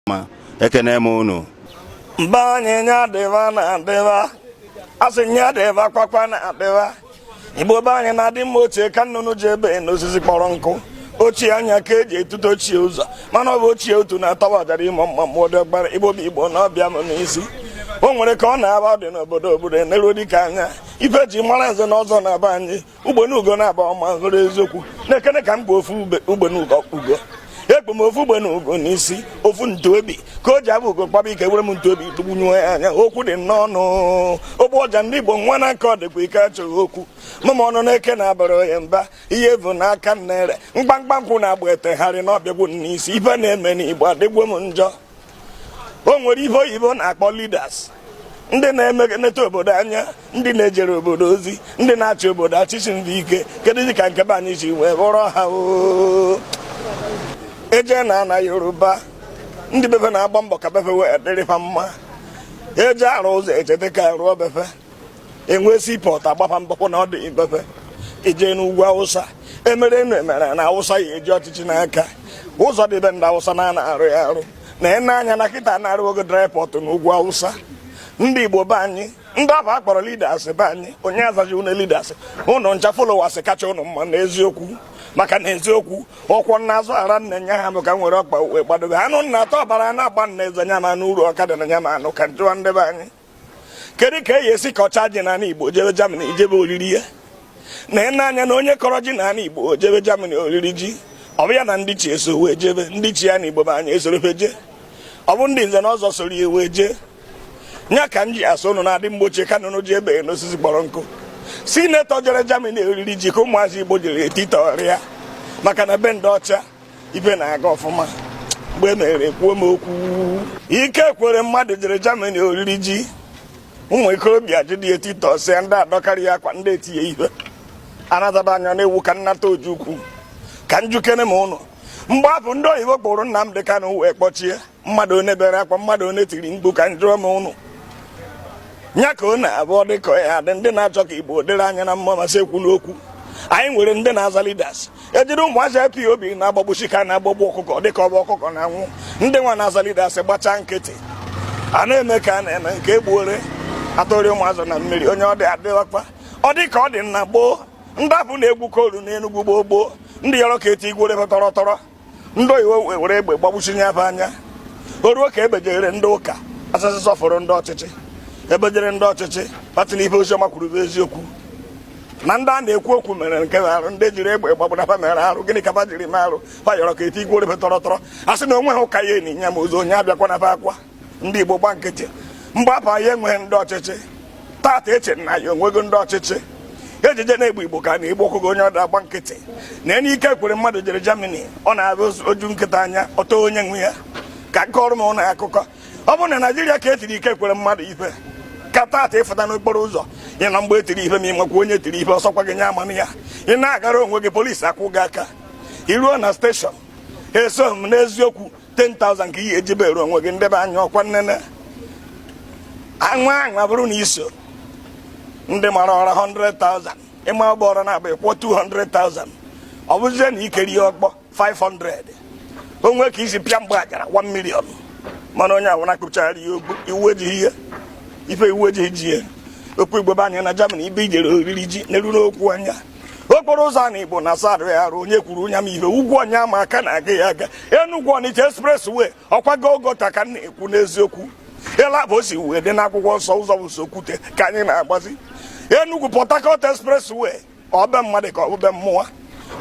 ma ekene m unu ndị be anyị nya dịba na adịba asị nya dịba kwakwa na adịba igbo be anyị na-adị mgbe ochie ka nnụnụ ji ebe n'osisi kpọrọ nkụ ochie anya ka eji etute ochie ụzọ mana ọ bụ ochie otu na-atawa ọjara ịmụ mma mmụọ dị ọgbara igbo bụ igbo na ọ bịa m n'isi o nwere ka ọ na-aba adị n'obodo obodo eneruo dịka anya ife e ji mara nze na ọzọ na be anyị ugbene ugo na-aba ọma hụrụ eziokwu na-ekene ka m gba ofu ugbene ugo ekpe m ofu ugbene ugo n'isi ofu ntuobi ka o ji abụ ugo kpaba ike were m ntuobi tụgbunyuo ya anya okwu dị n'ọnụ ogbu ọja ndị igbo nwa na aka ọdịkwa ike achọghị okwu mama ọnụ na-eke na-abara ya mba ihe bụ n'aka nnere mkpamkpa nkwụ na-agba etegharị na ọ bịagwo n'isi ife na-eme n'igbo adịgwo m njọ o nwere ife oyibo na-akpọ leaders ndị na-emegeneta obodo anya ndị na-ejere obodo ozi ndị na-achị obodo achịchị ndị ike keduzi ka nke be anyị si wee bụrụ ha e je na ana yoruba ndị be fe na-agba mbọ ka be fe wee dịrị ha mma e je arụ ụzọ e cheta ka a rụọ be fe enwee seaport agbaa mbọ kpọ na ọ dị be fe i je n'ugwu awụsa e mere enu e mere ana awụsa ya eji ọchịchị n'aka ụzọ dị be ndị awụsa a na-arụ ya arụ na ene anya na kịta na a rụọgo dry port na ugwu awụsa ndị igbo be anyị ndị afụ akpọrọ leaders be anyị onye azaji ụnụ leaders ụnụ ncha followers kacha ụnụ mma na eziokwu maka na eziokwu ọkwọ nna azụ ara nna nya ha bụ ka nwere ọkpa wee gbadobe anụ nna atọ ọbara na-agba nna eze nya ma n'uru ọka dị na nya ma anụ ka njụwa ndị be anyị kedu ka e yi esi kọcha ji n'ala Igbo jebe Germany ijebe oriri ya na ịna anya na onye kọrọ ji n'ala Igbo jebe Germany oriri ji ọ bụ ya na ndị ichie so wee jebe ndị ichie na Igbo be anyị esoro fe jee ọ bụ ndị nze na ọzọ soro ya wee jee nya ka m ji asị ụnụ na-adị mgbe ochie ka nnụnụ ji ebe n'osisi kpọrọ nkụ senator jere Germany oriri ji ka ụmụazị Igbo jere etitọrịa maka na be ndị ọcha ife na-aga ọfụma mgbe e mere kwuo m okwu Ike Ekweremadu jere Germany oriri ji ụmụ ikorobịa jide titọsịa ndị adọkarị ya akwa ndị etie ya ihe ọ nataba anya na-ewu ka nnata ojukwu ka njụkene m ụnụ mgbe afụ ndị oyibo kpụrụ Nnamdi Kanu wee kpọchie mmadụ one bere akwa mmadụ one tiri mkpu ka njụọ m ụnụ nya ka ọ na-abụ ọ dị ka ya dị ndị na-achọ ka igbo dịrị anyị na mma ma asị ekwuna okwu anyị nwere ndị na-aza leaders e jiri ụmụazị IPOB na-agbagbuchi ka na-agbagbu ọkụkọ dịka ọ bụ ọkụkọ na-anwụ ndị nwa na-aza leaders gbachaa nkịtị a na-eme ka a na-eme nke egbuore atụrị ụmụazị na mmiri onye ọ dị adịghịkwa ọ dị ka ọ dị na gboo ndị afụ na-egwu koolu n'enugwu gboo gboo ndị yọrọ ka etikwere tọrọ tọrọ ndị oyibo were egbe gbagbusi ndị be anyị o ruo ka ebejere ndị ụka asasị sọfụrụ ndị ọchịchị ebejere ndị ọchịchị fa sị na ihe oziọma kwuru bụ eziokwu na ndị a na-ekwu okwu mere nke arụ ndị jiri egbe gbagburu fa mere arụ gịnị ka fa jiri mee arụ fa yọrọ ka etikwuoro be tọrọ tọrọ a sị na onweghị ụka ya-eni ya ma ozu onye abịakwana fa akwa ndị Igbo gba nkịtị mgbe afụ anyị enweghị ndị ọchịchị tata eche na anyị enwego ndị ọchịchị ejije na-egbu igbo ka a na-egbu ọkụkọ onye ọbụna agba nkịtị nna anyị Ike Ekweremadu jere Germany ọ na-abụ o ju nkịta anya ọ taa onye nwe ya ka m kọọrọ ụnụ akụkọ ọ bụrụ na Naịjirịa ka etiri Ike Ekweremadu ife ka tata ịfụta n'okporo ụzọ ị ma mgbe etiri ife ma ị makwa onye tiri ife ọsọkwa gị nye amana ya ị na-agara onwe gị polisi akụ gị aka iruo na steshọn eso m n'eziokwu 10,000 ka ị ya-eji bere onwe gị ndị be anyị ọkwa nnene anwa anwa bụrụ na iso ndị mara ụra 100,000 ị maa ụgbọrọ nabọ ịkwụọ 200,000 ọ bụzie na ị kụrụ ya ọkpọ 500 o nwee ka i si pịa mgbe ajara 1 million mana onye awụ na-akpụchara ya ogbu iwu ejighị ihe ife iwu ejighị ji ya okwu igbo be anyị na Germany ebe ejere oriri ji nene nụkwa anya okporo ụzọ ana igbo na sadụ ya arụ onye kwuru onye ma ihe Ugwu Onyeama a ka na-aga ya aga enugwu ọnịcha expressway ọkwa Golgotha ka m na-ekwu n'eziokwu ịla bụ osi wee dị n'akwụkwọ nsọ ụzọ bụ sọ okwute ka anyị na-agbazi enugwu port harcourt expressway ọ bụ be mmadụ ka ọ bụ be mmụọ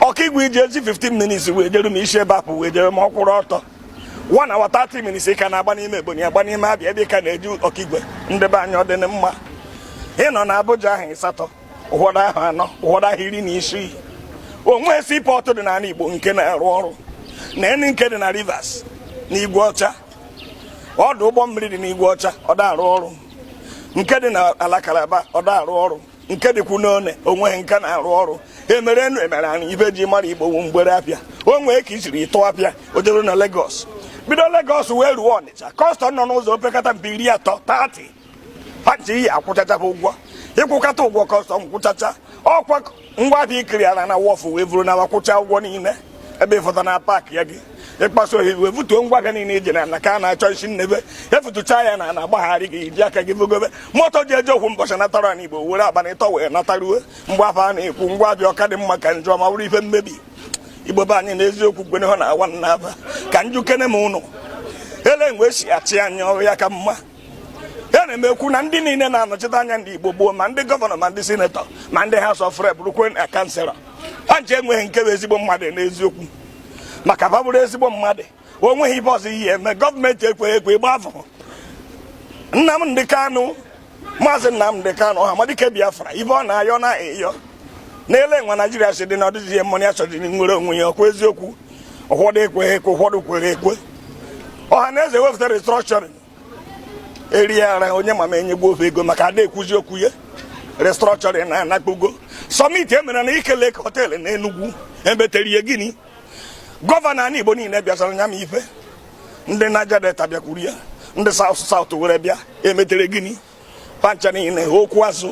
Okigwe eji eji 15 minutes wee jeruo isi ebe afụ wee jeruo ọ kwụrụ ọtọ one hour 30 minutes ka a na-agba n'ime ebonyi agba n'ime abịa ebe ka a na-eje Okigwe ndị be anyị ọ dị mma ịnọ na Abuja ahọ ịsatọ ụfọdụ ahọ anọ ụfọdụ ahọ iri na isii onwe seaport dị n'ala Igbo nke na-arụ ọrụ na eni nke dị na Rivers na Igwe Ọcha ọdụ ụgbọ mmiri dị n'Igwe Ọcha ọ da arụ ọrụ nke dị na ala Kalaba ọ da arụ ọrụ nke dịkwu n'Onne onweghị nke na-arụ ọrụ emere enu emere anị ife eji mara Igbo wụ mgbere afịa o nwee ka isiri ịtụ afịa o jere na Lagos bido Lagos wee ruo Ọnịcha kọstọm nọ n'ụzọ opekata mpe iri atọ 30 fa ncha ị ya-akwụchacha ha ụgwọ ịkwụkọta ụgwọ kọstọm kwụchacha ọkwa ngwa ahịa ị clearara na wharf wee buru na-ala kwụcha ụgwọ niile ebe ịfọta na paakịa gị ị kpasuo iwe ebutuo ngwa gị niile iji na ka a na-achọ isi nnebe efutucha ya na na-agbagharị gị iji aka gị bugobe moto ji eje ofu mbọchị natara na igbo were abalị ịtọ wee nataruo mgbe afụ a na-ekwu ngwa afịa ọ ka dị mma ka njọ ma ọ bụrụ ife mmebi igbo be anyị na eziokwu gwene ha na awa na aba ka m jụkene ụnụ ele mgbe esi achị anyị ọrụ ya ka mma ya na-ekwu na ndị niile na-anọchite anya ndị Igbo gboo ma ndị gọvanọ ma ndị sinetọ ma ndị House of Rep rukwe na kanselọ ha ncha enweghị nke bụ ezigbo mmadụ n'eziokwu maka ha bụrụ ezigbo mmadụ o nweghị ife ọzọ ihe eme gọọmenti ekweghị ekwe ịgbafụ Nnamdị Kanụ maazị Nnamdị Kanụ Ọhamadike Biafra ife ọ na-ayọ na ịyọ n'ele nwa Naijiria si dị na ọ dịzighị mma na ya chọdịrị nwere onwe ya ọkwa eziokwu ụfọdụ ekweghị ekwe ụfọdụ kwere ekwe Ọhaneze wepụtara restructuring erie ara onye ma ma enyego fa ego maka ada ekwuzi okwu ya restructuring anakpugo summit emere na Nike Lake Hotel na Enugu emetere ihe gịnị gọvanọ anị Igbo niile bịasara nya ma ife ndị Niger Delta bịakwuru ya ndị South South were bịa emetere gịnị fa ncha niile okwu azụ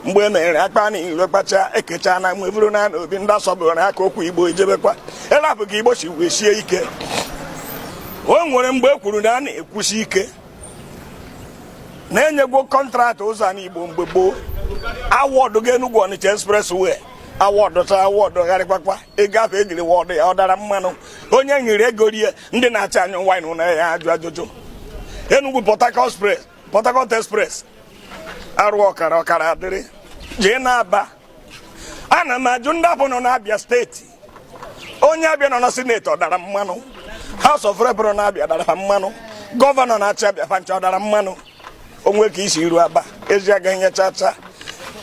mgbe e mere akpa niile kpacha ekecha na mgbe bụrụ na obi ndị asọbụrụ aka okwu Igbo ejebekwa ebe a bụ ka Igbo si wee sie ike o nwere mgbe e kwuru na a na-ekwusi ike na-enyegwo kọntraktị ụzọ anị Igbo mgbe gboo awọdụgo Enugu Ọnịcha expressway awọdụ ta awọdụ gharịkwakwa ego afụ ejiri wọdụ ya ọ dara mmanụ onye nyere ego rie ndị na-achị anyị wee na-ajụ ajụjụ Enugu Port Harcourt Express Port Harcourt Express arụ ọkara adịrị eje n'Aba ana m ajụ ndị afụ nọ n'Abia steeti onye Abia nọ na sineti ọ dara mmanụ House of Rep nọ n'Abia dara ha mmanụ gọvanọ na-achị Abia fa ncha ọ dara mmanụ o nwe ka e si eru Aba ezi agaghị nye chacha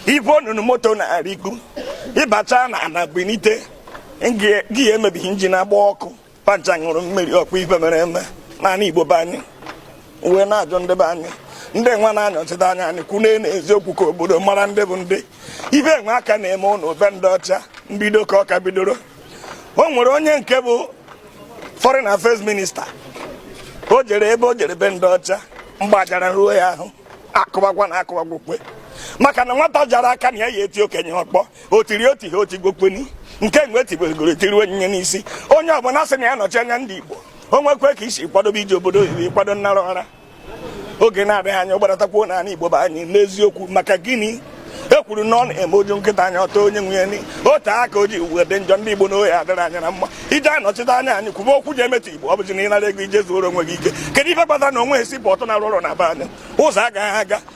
ibu onunu moto na-arịkpu ịbacha na ana gbenite gị emebighị injin agba ọkụ fa ncha ṅụrụ mmiri ọkwa ife mere eme n'anị Igbo be anyị wee na-ajụ ndị be anyị ndị nwa na-anọchite anya anyị kwune na eziokwu ka obodo mara ndị bụ ndị ife nwa a ka na-eme ụnụ be ndị ọcha mbido ka ọ ka bidoro o nwere onye nke bụ foreign affairs minister o jere ebe o jere be ndị ọcha mgbajara ruo ya ahụ akụbakwa na akụbakwa maka na nwata jara aka na ya ya eti okenye ọkpọ o tiri otu ihe oti gokweni nke mgbe etiberegoro etiri onyinye n'isi onye ọbụla sị na ya nọchi anya ndị Igbo o nwekwe ka isi kwadobe ije obodo oyibo kwado nnara ọra oge na-adịghị anya gbadatakwa n'ala Igbo be anyị n'eziokwu maka gịnị e kwuru na ọ na-eme o ju nkịta anya ọ ta onye nwe nya ni otu aka o ji wee dị njọ ndị Igbo na oyi adịrị anya na mma ije anọchite anya anyị kwube okwu ji emetụ Igbo ọ bụzi na ị nara ego i jee zuoro onwe gị ike kedu ife kpatara na o nweghị hospital na-arụ ọrụ na be anyị ụzọ agaghị aga